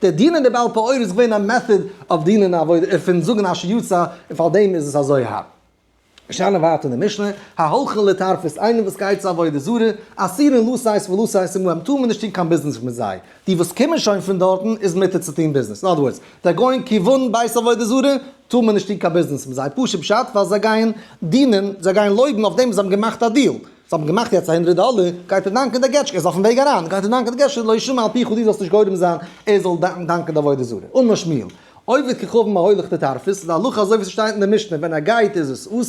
די דינען די בעל פעור איז געווען א מעטאד אויף דינען א עבודה פון זאגן אש י יצא און פארדעם איז עס אזוי הארב. שאלה ווייטער אין די משנה, ההולכין לתרפות, איינער וואס גייט צו עבודה זרה, אסירין לו סייס ולו סייס עמהם, טאר מען נישט טון קיין ביזנעס מיט זיי, די וואס קומען שוין פון דארטן איז מותר צו טון ביזנעס, אין אדער ווארדס, זיי גייען כיוון בית עבודה זרה, טאר מען נישט טון קיין ביזנעס מיט זיי, פשוט פשט, ווייל זיי גייען דינען, זיי גייען לויבן אויף דעם וואס זיי האבן געמאכט א דיעל, זיי האבן געמאכט יעצט א הונדרעט דאלער, גייט ער דאנקען די געטשקע, ער איז אויפן וועג אריין, גייט ער דאנקען די געטשקע, לא ישמע אל פיך, דו זאלסט נישט גורם זיין ער זאל דאנקען די עבודה זרה, אן משמעו. עובד ככבן ההולך לטרפות, איז די הלכה אזוי ווי ס'שטייט אין די משנה, ווען ער גייט איז עס אסור,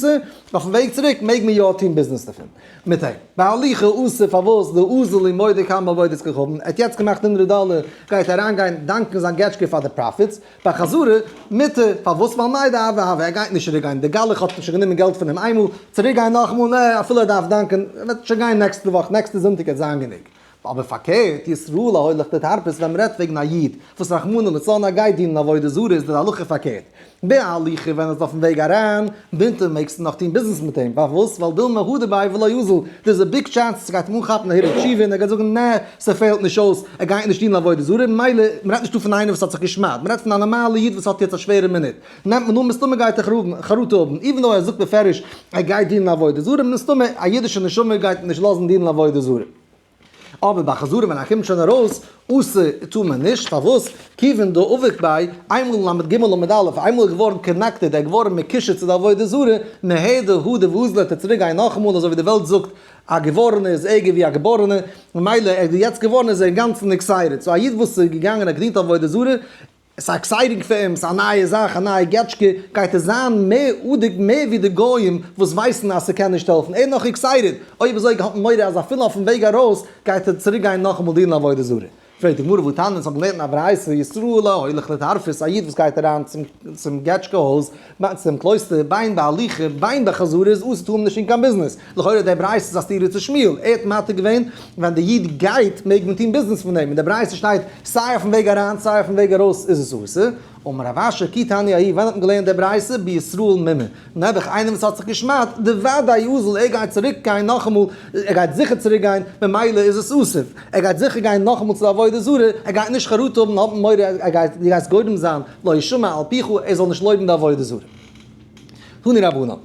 אויפן וועג צוריק מעג מען יא טון ביזנעס דערפון מיט אים. בהליכה איז אסור פארוואס די אזל איז מודה כמה עבודות ככבן, ער האט יעצט געמאכט הונדרעט דאלער, גייט אריינגיין דאנקן זיין געטשקע פאר די פראפיטס, ביי חזרה מותר, פארוואס ווייל מאי דהאי והא, ער גייט נישט צוריק גיין, די גלח האט שוין גענומען געלט פון אים איינמאל, צוריק גיין נאכמאל, נע, אפילו ער דארף דאנקען, ער וועט שוין גיין נעקסטע וואך, נעקסטע זונטאג וועט זיין גענוג. אבער פארקערט, ישראל הולך בתרפות ווען מ'רעדט וועגן א איד וואס רחמנא לצלן א גייט דינען עבודה זרה איז די הלכה פארקערט. בהליכה ווען ער איז אויפן וועג אריין בינתו מעגסטו נאך טון ביזנעס מיט אים, פארוואס? ווייל דילמא הא דבעי ולא יוזל, דא איז א ביג טשענס אז ס'גייט אים אנכאפן א הירא תשובה און ער גייט זאגן נע, ס'פעלט נישט אויס, ער גייט נישט דינען עבודה זרה, ממילא, מ'רעדט נישטא פון איינער וואס האט זיך גע'שמד'ט, מ'רעדט פון א נארמאלע איד וואס האט יעצט א שווערע מינוט, נעמט מען אן מסתמא גייט ער חרטה האבן, איווען דאו ער זאגט בפירוש ער גייט דינען עבודה זרה, מסתמא א אידישע נשמה גייט נישט לאזן דינען עבודה זרה. אבער ביי חזרה ווען ער קומט שוין ארויס עשה טאר מען נישט, פארוואס? כיוון דא אבק ביי, איינמאל ל' ג' ל' א', איינמאל ער איז געווארן קאנעקטעד, ער איז געווארן מקושר צו די עבודה זרה, מה' ד הא ד וואו זאל ער צוריק גיין נאכאמאל, אזוי ווי די וועלט זאגט, א געווארענער איז ערגער ווי א געבארענער, ממילא ער איז יעצט געווארן איז ער אינגאנצן נקסיידעד, סאו א איד וואס איז געגאנגען ער האט געדינט עבודה זרה, עס איז א עקסייטינג פירם, עס איז א נייע זאך, א נייע געטשקע, גייט עס זיין מער אדג מער ווי די גוים וואס ווייסן אז ס'קען נישט העלפן, ער איז נאך עקסייטעד, אוי וויאזוי איך האב מורא אז אפילו אויפן וועג ארויס גייט ער צוריק גיין נאכאמאל דינען עבודה זרה. פרעגט די גמרא וואו טענה'ן עס האבן געלערנט אין א ברייתא, ישראל הולך לתרפות, א איד וואס גייט אריין צום געטשקע הויז בײַ צום קלויסטער, בײַם בהליכה, בײַם בחזרה איז אָסור צו האָבן נישט אין קיין ביזנעס. לכאורה דער ברייתא איז אַ סתירה צו שמואל. ער האָט מעתיק געווען, ווען דער ייִד גייט, מעג מען טאָן ביזנעס פֿון דעם. אין דער ברייתא שטייט, סײַ אויפֿן וועג אַרײַן, סײַ אויפֿן וועג אַרויס איז עס אָסור. אמר רב אשר, כי תּעני אהי, ווען האָט מען געלערנט די ברייתא? בישראל מ מ. נעבעך, איינער וואָס האָט זיך געשמדט, די וודאי אָזל, ער גייט צוריק גיין נאָך אַ מאָל, ער גייט זיכער צוריק גיין, ממילא איז עס אָסור. ער גייט זיכער גיין נאָך אַ מאָל צו די עבודה זרה, ער גייט נישט חרטה האָבן, האָבן מורא, אַז דו גייסט גורם זײַן, לא ישמע אל פיך, ער זאל נישט לויבן די עבודה זרה. תני רבנן, מיר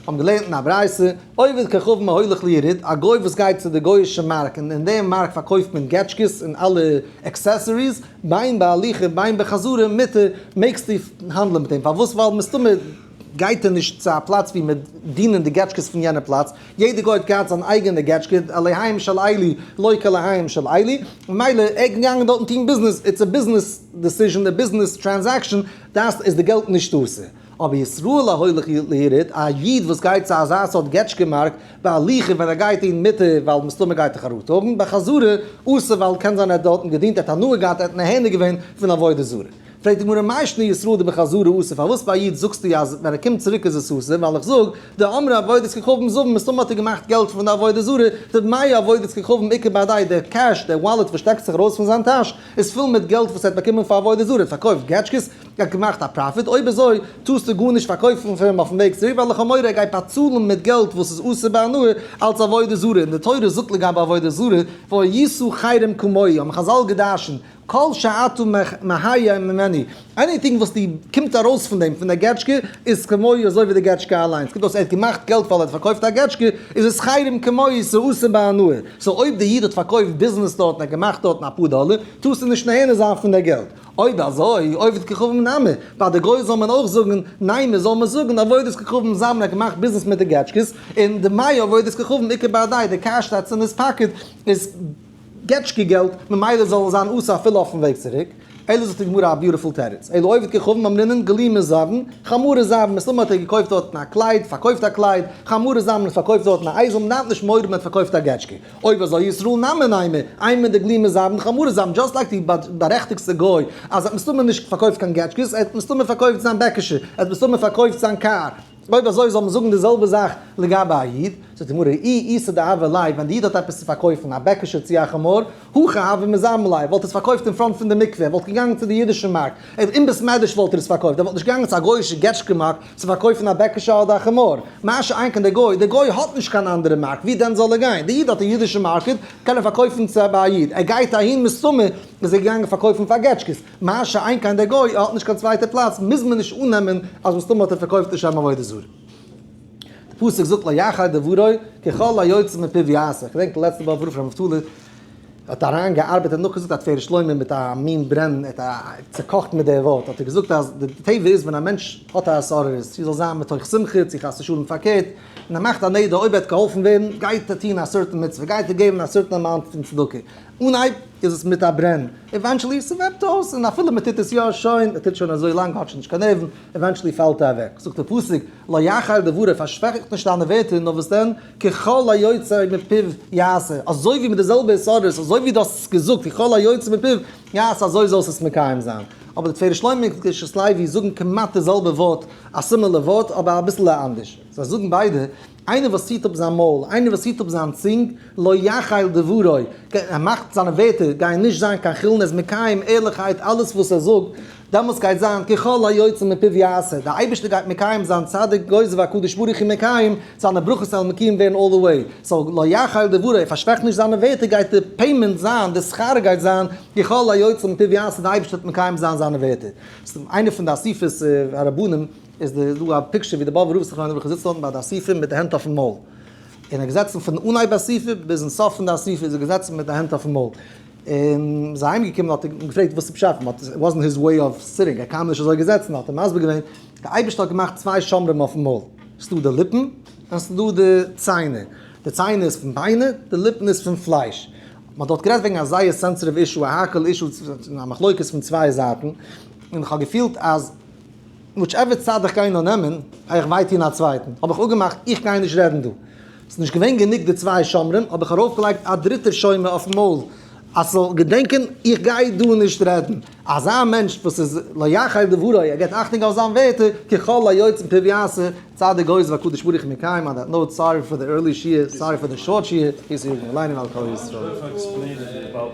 האבן געלערנט אין א ברייתא, עובד כוכב מהולך ליריד, א גוי וואס גייט צו די גוי'אישע מארק און אין דעם מארק פארקויפט מען געטשקעס און אלע עקסעסעריס, בין בהליכה בין בחזרה מותר, מעגסטו האנדלען מיט אים, פארוואס? ווייל מסתמא גייט ער נישט צו א פלאץ ווי מען דינען די געטשקעס פון יענע פלאץ, יעדע גוי האט געהאט זיין אייגענע געטשקע, עליהיים של איילי, לא כעליהיים של איילי, ממילא ער קען געאנגען דארטן טון ביזנעס, איטס א ביזנעס דעסיזשען, א ביזנעס טרענזעקשען, דאס איז די געלט נישט דאס, אבער ישראל ההולך ליריד, א איד וואס גייט צו אזא סארט געטשקע מארק, בהליכה ווען ער גייט אין מיטה ווייל מסתמא גייט ער חרטה האבן, בחזרה אסור ווייל קען זיין ער האט דארטן געדינט, ער האט הנאה געהאט, ער האט נהנה געווען פון עבודה זרה. פרעגט די גמרא מאי שנא ישראל די בחזרה אסור פארוואס ביי א איד זאגסטו אז ווען ער קומט צוריק איז עס אסור ווייל איך זאג די אמרי אבידת כוכבים זאב מסתמא האט ער געמאכט געלט פון די עבודה זרה די מאי אבידת כוכבים עיקר באדייט די קעש די וואלעט וואס שטעקט זיך ארויס פון זיין טאש איז פול מיט געלט וואס ער האט באקומען פאר עבודה זרה ער האט פארקויפט געטשקעס ער האט געמאכט א פראפיט אויב אזוי טארסטו גארנישט פארקויפן פון אים אויפן וועג צוריק ווייל לכאורה ער גייט באצאלן מיט געלט וואס איז אסור בהנאה אלץ עבודה זרה און די תורה זאגט לגבי עבודה זרה ואי ישא חרם כמוהו האבן חזל געדארשנט כל שאתה מהיה ממני, עניטינג וואס די קומט ארויס פון דעם פון דער געטשקע איז כמוהו אזוי ווי די געטשקע אליין, ס'קומט אויס ער האט געמאכט געלט ווייל ער האט פארקויפט א געטשקע, איז עס חייבים כמוהו ס'אסור בהנאה, סאו אויב די איד האט פארקויפט ביזנעס דארט און ער האט געמאכט דארטן אפאר דאלער, טארסטו נישט נהנה זיין פון דער געלט, אויב אזוי עובד ככרום נמי, ביי די גוי זאל מען אויך זאגן, ניין מען זאל מען זאגן עבודת ככרום זיין מען האט געמאכט ביזנעס מיט די געטשקעס, און די מיה עבודת ככרום עיקר בידי די קארשטייצער אין היז פאקעט איז. געטשקע געלט, ממילא זאל עס זיין אסור אפילו אויפן וועג צוריק, אלא זאגט די גמרא א ביוטיפול תירוץ, אלא עובד כוכבים אמרינן גלימת זהבן, חמורי זהב, מסתמא האט ער געקויפט דארטן א קלייד, פארקויפט א קלייד, חמורי זהב, מען האט פארקויפט דארטן א אייזל, מען דארף נישט מורא, מען האט פארקויפט א געטשקע, אויב אזוי ישראל נאמן איימער, איימער די גלימת זהבן חמורי זהבן, דזשאסט לייק די בארעכטיגסטע גוי, אז ער האט מסתמא נישט פארקויפט קיין געטשקעס, ער האט מסתמא פארקויפט זיין בעקעשע, ער האט מסתמא פארקויפט זיין קאר, אויב אזוי זאל מען זאגן די זעלבע זאך לגבי א איד, זאגט די גמרא, אי איסר דהוה ליה, ווען די איד האט עפעס צו פארקויפן, א בעקעשע צו א חמור, הכא הוה מזעם ליה, וואלט ער עס פארקויפט אין פראנט פון די מקווה, ער וואלט געגאנגען צו די אידישע מארק, ער אין בית מדרש וואלט ער עס פארקויפט, ער וואלט נישט געגאנגען צו א גויאישע געטשקע מארק צו פארקויפן א בעקעשע אדער א חמור, מה שאין כן די גוי, די גוי האט נישט קיין אנדערע מארק, ווי דען זאל ער גיין, די איד האט א אידישע מארקעט, קען ער פארקויפן צו ביי א איד, ער גייט אהין מסתמא איז ער געגאנגען פארקויפן פאר געטשקעס. מה שאין כן דער גוי, ער האט נישט קיין צווייטע פלאץ, מוז מען נישט אננעמען אז מסתמא האט ער פארקויפט לשם עבודה זרה. דער פסוק זאגט לא יחי דברי, ככל היוצא מפיו יעשה. איך געדענק לעצטע וואך ווארום פון אבטלי' האט אריין געארבעט און נאכגעזאגט א תפארת שלמה מיט א מין ברען, ער האט צוקאכט מיט די ווארט, האט ער געזאגט אז די טבע איז ווען א מענטש האט א התעוררות, צו זאל זיין מתוך שמחה צו חס ושלום פארקערט, און ער מאכט א נדר אויב ער וועט געהאלפן ווערן גייט ער טון א סערטען מצוה, גייט ער געבן א סערטען אמאונט פון צדקה. אנהייב איז עס מיט א ברען, עווענטשעלי ס'וועפט אויס, און אפילו מ'טוט עס יא שוין, מ'טוט שוין אזוי לאנג, האט שוין נישט קיין נערוון, עווענטשעלי פאלט ער אוועק. זאגט דער פסוק, לא יחר דבריו, פארשוועכערט נישט דיינע ווערטער, נאר וואס דען, ככל היוצא מפיו יעשה, אזוי ווי מיט די זעלבע יסודות, אזוי ווי דו האסט עס געזאגט, ככל היוצא מפיו יעשה, אזוי זאלסטו עס מקיים זיין. אבער די תפארת שלמה און קדושת לוי זאגן כמעט די זעלבע ווארט, א סימילער ווארט, אבער אביסלע אנדערש. זיי זאגן ביידע, איינער וואס ציט אפ זיין מויל, איינער וואס ציט אפ זיין צונג, לא יחיל דברו, ער מאכט זיינע ווערטער גייען נישט זיין קיין חולין, ער איז מקיים ערליכקייט אלעס וואס ער זאגט, דעמאלטס גייט זיין כי כל היוצא מפיו יעשה, דער אייבערשטער גייט מקיים זיין, צדיק גוזר והקדוש ברוך הוא מקיים, זיינע ברכות וועלן מקיום ווערן אלל דע וועי, סאו לא יחיל דברו, ער פארשוועכט נישט זיינע ווערטער גייט די פעימענט זיין, די שכר גייט זיין, כי כל היוצא מפיו יעשה, דער אייבערשטער וועט מקיים זיין זיינע ווערטער. איינער פון די אסיפות הרבנים. איז דא דא א פיקטשער ווי די באבע רב'ס זיך ליידער זיצט אויבן ביי די אסיפה מיט די הענט אויפן מויל. און ער איז געזעצן פון אנהייב אסיפה ביזן סוף פון די אסיפה איז ער געזעצן מיט די הענט אויפן מויל. און מען איז אהיים געקומען האט ער אים געפרעגט וואס איז פשט פון האט איט וואזנט היז וועי אוו סיטינג ער קען נישט אזוי געזעצן האט ער מסביר געווען די אייבערשטער האט געמאכט צוויי שומרים אויפן מויל ס'איז דא די ליפן און ס'איז דא די ציינער די ציינער איז פון ביינער די ליפן איז פון פלייש. מען האט דארט גערעדט וועגן א זייער סענסעטיוו אישו א האקעל אישו א מחלוקת פון צוויי זייטן און איך האב געפילט אז. וויטשעווער צד איך גיי נאר נעמען, גיי איך וויי טון א צווייטן, האב איך אפגעמאכט איך גיי נישט רעדן דא. ס'איז נישט געווען גענוג די צוויי שומרים, האב איך ארויפגעלייגט א דריטער שומר אויפן מויל, אז ס'זאל געדענקען איך גיי דא נישט רעדן. אזא מענטש וואס איז לא יחי דברי, ער גיבט אכטונג אויף זיין ווערטער, כי כל היוצא מפי ויעשה, צד איך גויז והקדוש ברוך הוא מקיים אן דעט נאוט סארי פאר די ערלי שיעור, סארי פאר די שארט שיעור, קענסט יאגן אליין אין על כל ישראל.